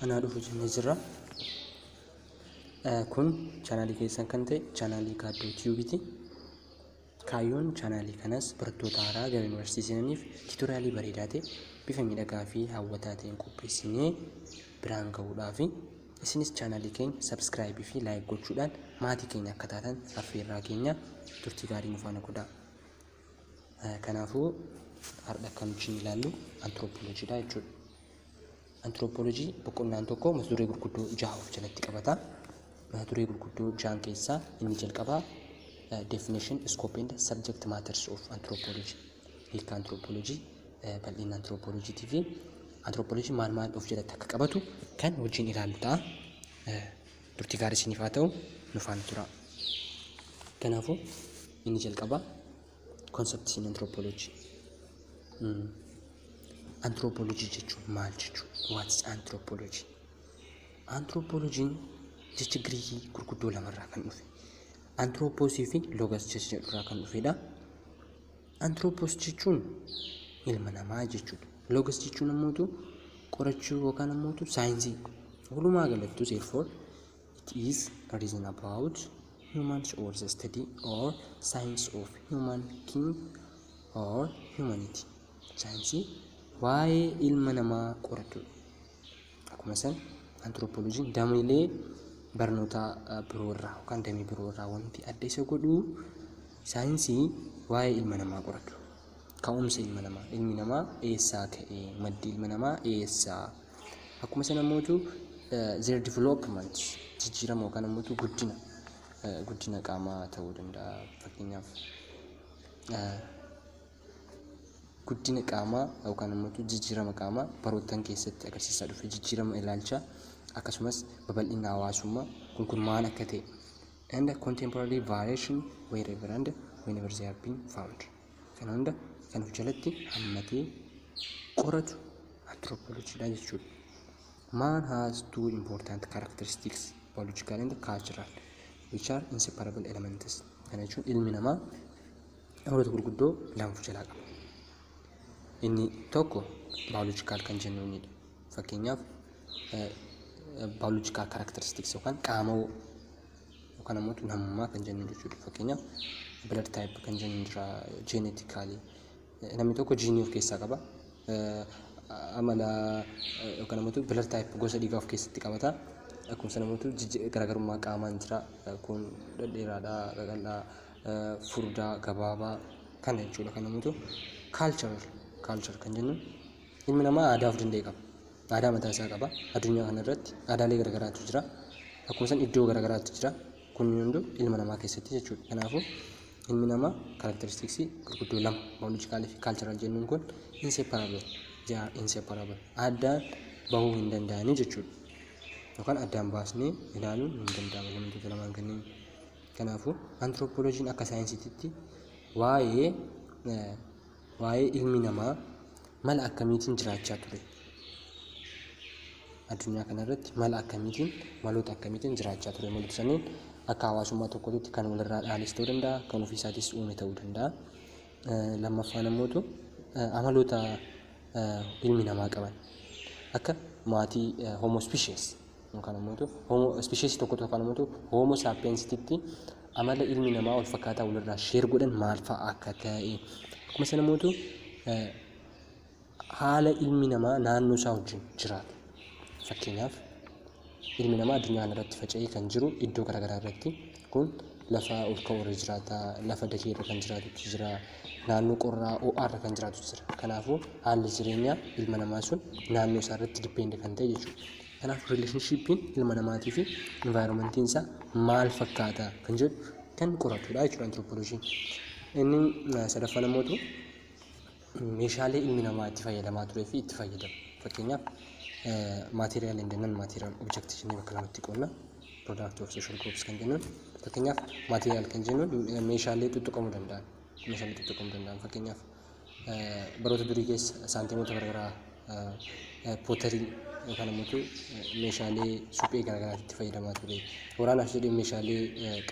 anaa dhufu jennee jirra. Eh, Kun chaanaalii keessan kan ta'e chaanaalii Gaaddoo Tiyuubiti. Kaayyoon chaanaalii kanas barattoota haaraa gara yuunivarsiitii seenaniif tiitoriyaalii bareedaa ta'e bifa miidhagaa fi hawwataa ta'een qopheessinee biraan ga'uudhaafi. Isinis chaanaalii keenya sabskraayibii fi laayik gochuudhaan maatii keenya akka taatan affeerraa keenya turtii gaarii nu faana godhaa. Kanaafuu har'a kan nuti ilaallu antiroopooloojiidha jechuudha. Antiroopooloojii boqonnaan tokko mata duree gurguddoo jaha of jalatti qabata. Mata duree gurguddoo jahan keessaa inni jalqabaa definition, scope and subject matters of anthropology hiika antiroopooloojii, bal'ina antiroopooloojiitii fi antiroopooloojiin maal maal of jalatti akka qabatu kan wajjin ilaallu ta'a. Turtii gaarii isiniif haa ta'u nu faana turaa. Kanaafuu inni jalqabaa concepts in anthropology. Mm. Anthropology jechuun maal jechuudha? What is anthropology? Anthropology'n jecha Giriikii gurguddoo lamarraa kan dhufe. Anthropos fi logos jecha jedhurraa kan dhufedha. Anthropos jechuun ilma namaa jechuudha. Logos jechuun ammoo qorachuu yookaan ammoo saayinsii. Walumaa galattuu therefore it is a reason about humans or the study or science of human king or humanity. Saayinsii waa'ee ilma namaa qoratudha. Akkuma san antiroopooloojiin dameelee barnoota biroo irraa yookaan damee biroo irraa wanti adda isa godhu saayinsii waa'ee ilma namaa qoratu. Ka'umsa ilma namaa ilmi namaa eessaa ka'e maddi ilma namaa eessaa akkuma sana immoo their development jijjiirama yookaan immoo guddina guddina qaamaa ta'uu danda'a fakkeenyaaf guddina qaamaa yookaan immoo jijjiirama qaamaa baroottan keessatti agarsiisaa dhufe jijjiirama ilaalchaa akkasumas babal'ina hawaasummaa kun kun maal akka ta'e and contemporary variation wherever and whenever they have been found kana hunda kan of jalatti hammatee qoratu anthropology dha jechuudha. Man has two important characteristics biological and cultural which are inseparable elements kana jechuun ilmi namaa dhimmoota gurguddoo lama of jalaa qaba. Inni tokko baayoloojikaal kan jennu innidha. Fakkeenyaaf baayoloojikaal kaaraktaristiks yookaan qaamawoo yookaan ammoo namummaa kan jennu jechuudha. Fakkeenyaaf blood type kan jennu jira genetically. Namni tokko jiinii of keessaa qaba. Amala yookaan ammoo blood type gosa dhiigaa of keessatti qabata. Akkuma sana ammoo garaagarummaa qaamaan jira. Kun dhedheeraadha, qaqal'aa, furdaa gabaabaa kana jechuudha kan namatu cultural culture kan jennu ilmi namaa aadaa of danda'e qaba aadaa mataa isaa qaba addunyaa kana irratti aadaalee garagaraatu jira akkuma san iddoo garagaraatu jira kun hunduu ilma namaa keessatti jechuudha kanaafuu ilmi namaa karakteristiksii gurguddoo lama baayoloojikaalii fi kaalcharal jennuun kun inseparable jaa inseparable addaan bahuu hin danda'anii jechuudha yookaan addaan baasnee ilaaluun hin danda'amu wantoota lamaan kanneen Kanaafuu antiroopooloojiin akka saayinsiititti waa'ee waa'ee ilmi namaa mala akkamiitiin jiraachaa ture addunyaa kanarratti mala akkamiitiin maloota akkamiitiin jiraachaa ture maloota saniin akka hawaasummaa tokkootti kan walirraa dhaalis ta'uu danda'a kan ofiisaatis uume ta'uu danda'a lammaffaan ammootu amaloota ilmi namaa qaban akka maatii homo species yookaan ammoo hoomoo ispisheesii tokko yookaan ammoo hoomoo saappiyeensititti amala ilmi namaa wal fakkaataa walirraa sheer godhan maal fa'a akka ta'e akkuma sana mootu haala ilmi namaa naannoo isaa wajjin jiraatu fakkeenyaaf ilmi namaa addunyaa irratti faca'ee kan jiru iddoo garaagaraa irratti kun lafa ol ka'u irra jiraata lafa dakee irra kan jiraatutu jira naannoo qorraa ho'aa irra kan jiraatutu jira kanaafuu haalli jireenyaa ilma namaa sun naannoo isaa irratti dippeende kan ta'e jechuudha Kanaaf rileeshinshiippiin ilma namaatii fi invaayiroomantiin isaa maal fakkaata kan jedhu kan qoratudha jechuudha antiroopooloojiin. Inni sadaffaan ammoo meeshaalee ilmi namaa itti fayyadamaa turee fi itti fayyadamu. Fakkeenyaaf maatiriyaal hin jennan maatiriyaal objekti jennee bakka lamatti qoodna. Product of social groups kan jennuun fakkeenyaaf maatiriyaal kan jennuun meeshaalee tuttuqamuu danda'an meeshaalee tuttuqamuu danda'an fakkeenyaaf baroota durii keessa saantiimoota garaagaraa pootarii yookaan immoo meeshaalee suphee garaagaraa itti fayyadamaa ture. Waraanaaf jedhee meeshaalee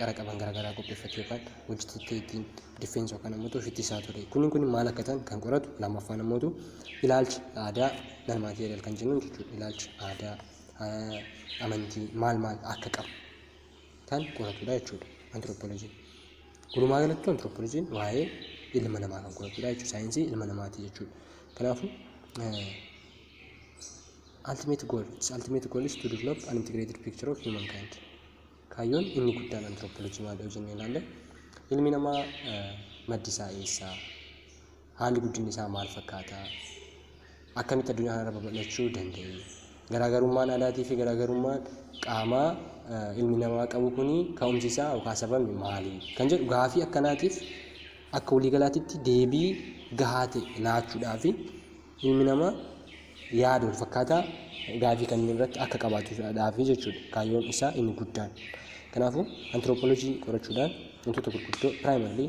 qara qaban garaagaraa qopheeffatee yookaan hojjetatee ittiin difeensi yookaan immoo ofitti isaa ture. Kunniin kun maal akka ta'an kan qoratu lammaffaan immoo ilaalcha aadaa nan maateeriyal kan jennu jechuudha. Ilaalcha aadaa amantii maal maal akka qabu kan qoratudha jechuudha antiroopooloojiin. Walumaa galatti antiroopooloojiin waa'ee ilma namaa kan qoratudha jechuudha saayinsii ilma namaati jechuudha. Kanaafuu ultimate goal its ultimate goal is to develop an integrated picture of humankind. Kaayyoon inni guddaan antiroopooloojii maal yoo jennee ilaalle ilmi namaa maddi isaa eessaa? Haalli guddinni isaa maal fakkaata? Akkamitti addunyaa kanarra babal'achuu danda'e? Garaagarummaan aadaatii fi garaagarummaan qaamaa ilmi namaa qabu kun ka'umsi isaa yookaan sababni maali? Kan jedhu gaafii akkanaatiif akka waliigalaatitti deebii gahaa ta'e laachuudhaaf ilmi namaa yaada wal fakkaataa gaafii kanneen irratti akka qabaatuudhaaf jechuudha kaayyoon isaa inni guddaan. Kanaafuu antiroopoolojii qorachuudhaan wantoota gurguddoo piraayimarlii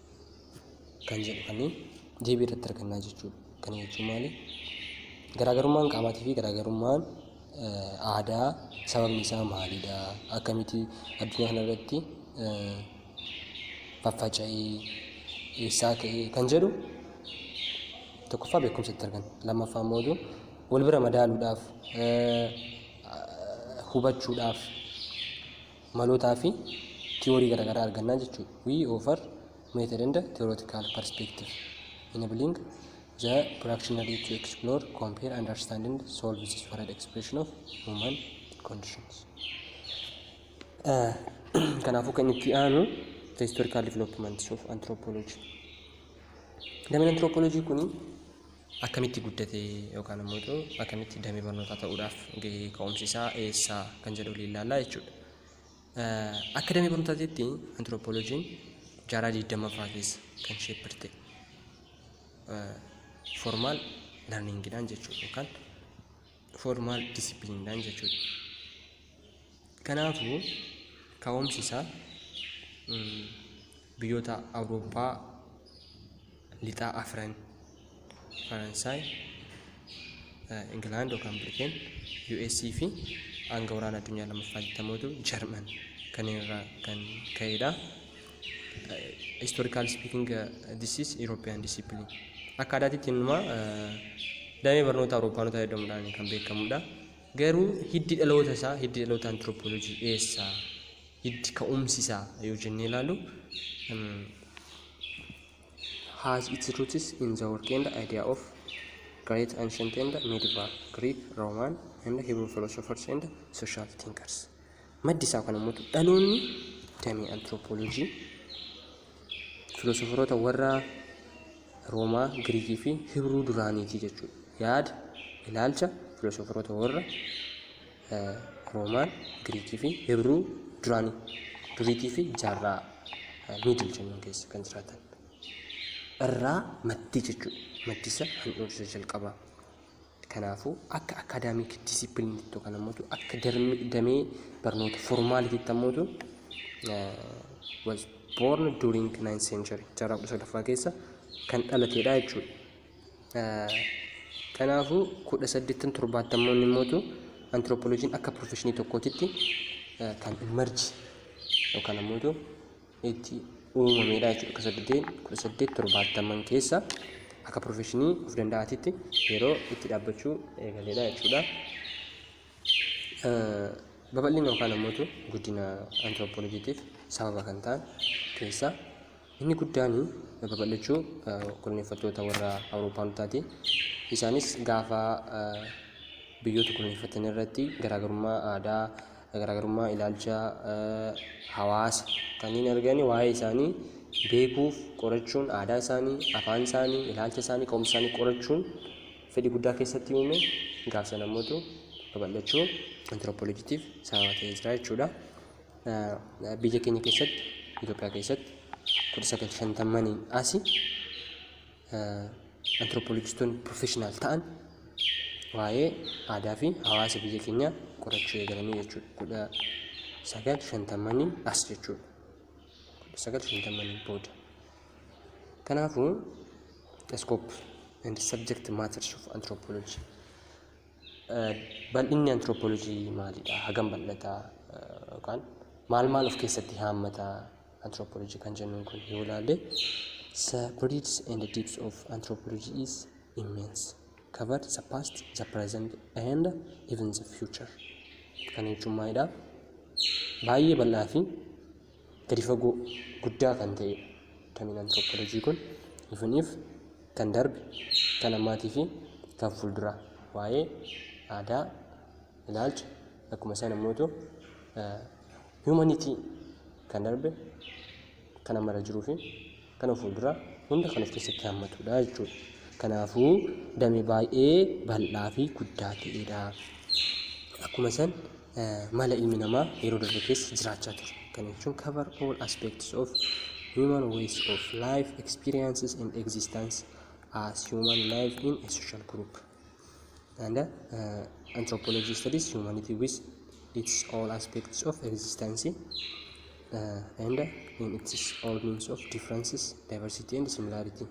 kan jedhu kan deebii irratti argannaa jechuudha. Kana jechuun maali? Garaagarummaan qaamaatii fi garaagarummaan aadaa sababni isaa maalidha? Akkamitti addunyaa kana irratti faffaca'ee eessaa ka'ee kan jedhu tokkoffaa beekumsa itti arganna. Lammaffaa immoo iyyuu wal bira madaaluudhaaf hubachuudhaaf malootaa fi tiyoorii garaagaraa argannaa jechuudha. We offer method and theoretical perspective enabling the practitioner to explore, compare, understand and solve this varied expression of human conditions. Kanaafuu kan itti aanu the historical developments of anthropology. Dameen anthropology kuni akkamitti guddate yookaan ammoo coo akkamitti damee barnootaa ta'uudhaaf gahee ka'umsi isaa eessa kan jedhu waliin ilaallaa jechuudha. Akka damee barnootaatiitti antiroopooloojiin jaarraa digdammaffaa keessa kan sheeppirte formaal larniingidhaan jechuudha yookaan formaal disipiliinidhaan jechuudha. Kanaafuu ka'umsi isaa mm, biyyoota Awurooppaa lixaa afran Faransaay, eh, Ingilaand yookaan Birteen, US fi hanga waraana addunyaa lammaffaa jettamuutu Jarman kanneen irraa kan ka'edha. Historical speaking, uh, this is European discipline. Akka aadaatitti innumaa uh, damee barnoota Awurooppaanotaa jedhamuudhaan kan beekamudha. Garuu hiddi dhaloota isaa, hiddi dhaloota antiropoolojii eessaa, hiddi ka'umsi isaa yoo jennee ilaalu um, has its roots in the work and idea of great ancient and medieval Greek, Roman and Hebrew philosophers and social thinkers. Maddi isaa kan ummatu dhaloonni damee antiroopooloojii filoosoferoota warra Roomaa, Giriikii fi Hibruu duraaniiti jechuudha. Yaada, ilaalcha filoosoferoota warra eh, Roomaan, Giriikii fi Hibruu duraanii duriitii fi jaarraa eh, miidil jennuun keessa kan jiraatan irraa maddi jechuudha. Maddi isa handhuura isa jalqabaa. Kanaafuu akka akaadaamiik diisippiliinitti yookaan ammoo akka damee barnoota formaaliitiitti ammoo was born during 9th century jaarraa kudha sadaffaa keessa kan dhalateedha jechuudha. Kanaafuu kudha saddeettan torbaattamoonni immoo antiroopoloojiin akka pirofeshinii tokkootitti kan imarji yookaan ammoo itti uumamedha jechuudha. Akka saddeetiin kudha saddeet torbaattaman keessa akka pirofeshinii of danda'aatitti yeroo itti dhaabbachuu eegaledha jechuudha. Babal'ina yookaan ammoo guddina antiroopoolojiitiif sababa kan ta'an keessaa inni guddaan babal'achuu koloneeffattoota warra Awuroopaanotaati. Isaanis gaafa biyyoota koloneeffatan irratti garaagarummaa aadaa garaagarummaa ilaalcha hawaasa kanneen arganii waa'ee isaanii beekuuf qorachuun aadaa isaanii, afaan isaanii, ilaalcha isaanii, qoomsa isaanii qorachuun fedhii guddaa keessatti uume gaaf sana immoo babal'achuu antiroopooloojiitiif sababa ta'ee jira jechuudha. Biyya keenya keessatti Itoophiyaa keessatti kudha sagal shantamaniin asi antiroopoolojistoonni pirofeshinaal ta'an waa'ee aadaa fi hawaasa biyya keenyaa qorachuu eegalanii jechuudha. Kudha sagal shantamanii as jechuudha. Kudha sagal shantamanii booda. Kanaafuu, the scope and subject matters of anthropology Bal'inni antiroopoolojii maalidha? Hagam bal'ata? Yookaan maal maal of keessatti haammata antiroopoolojii kan jennuun kun yoo ilaalle the breadth and depth of anthropology is immense covered the past the present and even the future kan jechuun maalidha? Baay'ee bal'aa fi gadi fagoo guddaa kan ta'e damiin antiroopoolojii kun ifiniif kan darbe kan ammaatii fi kan fuulduraa waa'ee aadaa ilaalcha akkuma sana immoo humanity kan darbe kan ammarra jiruu fi kana fuuldura hunda kan of keessatti hammatudha jechuudha. Kanaafuu dame baay'ee bal'aa fi guddaa ta'edha. Akkuma san mala ilmi namaa yeroo darbe keessa jiraachaa ture. Kana jechuun cover all aspects of human ways of life, experiences and existence as human life in a social group. and uh, anthropology studies humanity with its all aspects of existence uh, and in its all means of differences diversity and similarity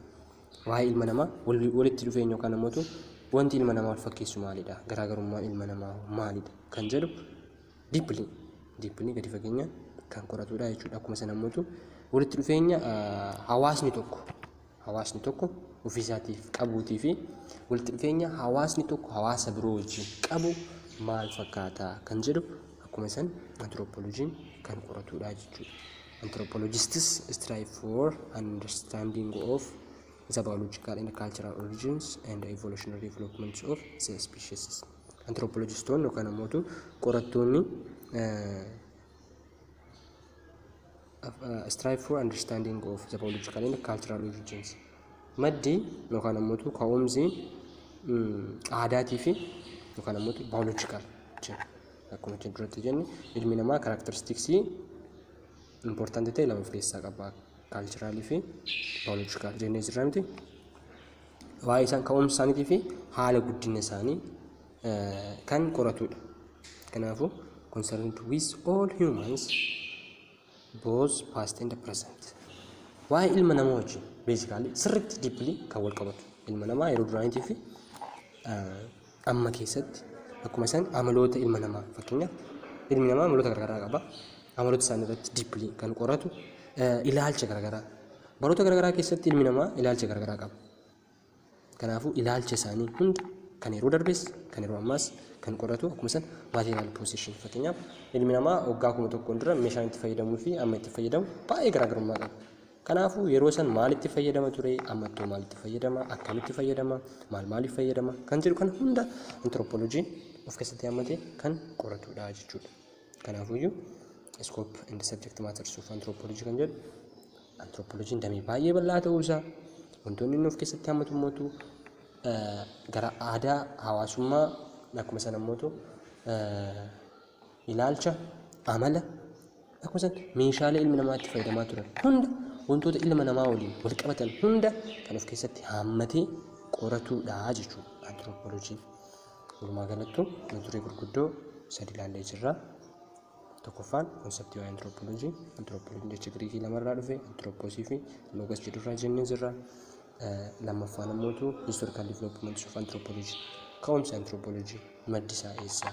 waa'ee ilma namaa wal- walitti dhufeenya yookaan namoota wanti ilma namaa wal fakkeessu maalidha garaagarummaan ilma namaa maalidha kan jedhu diippilii diippilii gadi fageenya kan qoratudha jechuudha akkuma sana namoota walitti dhufeenya uh, hawaasni tokko hawaasni tokko ofiisaatiif qabuutii fi walitti dhufeenya hawaasni tokko hawaasa biroo wajjin qabu maal fakkaata kan jedhu akkuma san antiroopooloojiin kan qoratudha jechuudha. Anthropologists strive for understanding of the biological and cultural origins and evolutionary developments of the species. Anthropologistoonni yookaan ammoo qorattoonni eh, strive for understanding of the political and cultural origins maddi yookaan ammoo ka'umsi aadaatii fi yookaan ammoo biological jenna akkuma isin duratti jenne ilmi namaa karakteristiksii important ta'e lama of keessaa qaba cultural fi biological jennee jirra miti waa'ee isaan ka'umsa isaaniitii fi haala guddina isaanii kan qoratudha. Kanaafuu concerned with all humans both past and present. Waa'ee ilma namaa wajjin basically sirriitti deeply kan wal qabatu ilma namaa yeroo duraaniitii fi amma keessatti akkuma isaan amaloota ilma namaa fakkeenyaaf ilmi namaa amaloota garaagaraa qaba amaloota isaanii irratti deeply kan qoratu ilaalcha garaagaraa baroota garaagaraa keessatti ilmi namaa ilaalcha garaagaraa qaba Kanaafuu ilaalcha isaanii hunda kan yeroo darbes kan yeroo ammaas kan qoratu akkuma san material possession fakkeenyaaf ilmi namaa waggaa kuma tokkoon dura meeshaan itti fayyadamuu fi amma itti fayyadamu baay'ee garaagarummaa qaba. Kanaafuu yeroo san maal itti fayyadama ture amma ittoo maal itti fayyadama akkamitti fayyadama maal maaliif fayyadama kan jedhu kan hunda antirooppooloojiin of keessatti hammatee kan qoratudha jechuudha. Kanaafuyyuu scope and subject matters of anthropology kan jedhu Antirooppooloojiin damee baay'ee bal'aa ta'uu isaa wantoonni inni of keessatti hammatu immoo gara aadaa hawaasummaa akkuma sana immoo ilaalcha amala akkuma sana meeshaalee ilmi namaa itti fayyadamaa turan hunda wantoota ilma namaa waliin wal qabatan hunda kan of keessatti hammatee qoratuudha jechuudha antirooppooloojiin. Walumaa galattuu mata duree gurguddoo sadi ilaallee jirra. Tokkoffaan konseptii waa'ee antiroopooloojii. Antiroopooloojii jecha Giriikii lamarraa dhufe antiroopoosii fi loogas jedhurraa jennee jirra. Lammaffaan ammoo tu historical development of anthropology. Ka'umsi antiroopooloojii maddi isaa eessa?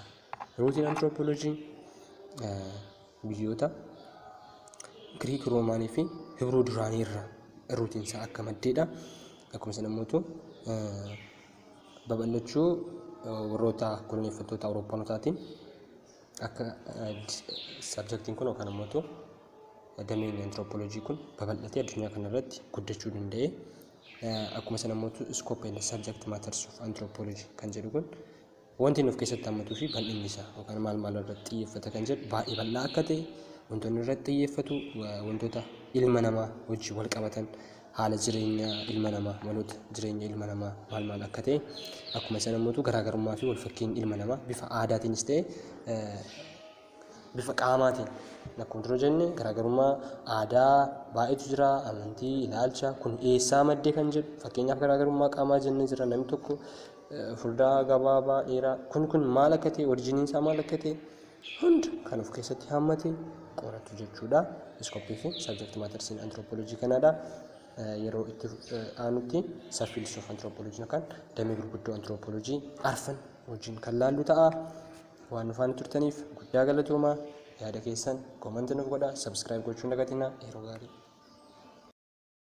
Ruutiin antiroopooloojii biyyoota Giriik Roomaanii fi Hibruu duraanii irraa ruutiin isaa akka maddeedha. Akkuma sana ammoo tu babal'achuu warroota koloneeffattoota Awurooppanootaatiin Akka sabjektiin kun yookaan ammoo dameen antiroopooloojii kun babal'atee addunyaa kana irratti guddachuu danda'e. Akkuma sana ammoo iskoop and sabjekti maatars of antiroopooloojii kan jedhu kun wanti inni of keessatti hammatuu fi bal'inni isaa yookaan maal maal irratti xiyyeeffata kan jedhu baay'ee bal'aa akka ta'e wantoonni irratti xiyyeeffatu wantoota ilma namaa wajjin wal qabatan haala jireenya ilma namaa maloota jireenya ilma namaa maal maal akka ta'e akkuma sana immoo garaagarummaa fi walfakkiin ilma namaa bifa aadaatiinis ta'e bifa qaamaatiin akkuma dura jenne garaagarummaa aadaa baay'eetu jira amantii ilaalcha kun eessaa maddee kan jedhu fakkeenyaaf garaagarummaa qaamaa jennee jira namni tokko furdaa gabaabaa dheeraa kun kun maal akka ta'e orijiniin isaa maal akka ta'e hund kan of keessatti hammate qoratu jechuudha. Iskooppii fi sabjekti maatarsiin antiroopoolojii kanaadha. Yeroo itti aanutti sabfiildis of antiroopoolojii yookaan damee gurguddoo antiroopoolojii arfan wajjin kan laallu ta'a. Waan nufaan turtaniif guddaa galatoomaa yaada keessan koomanti nuuf godha sabskiraayib gochuun dagatinaa yeroo gaarii.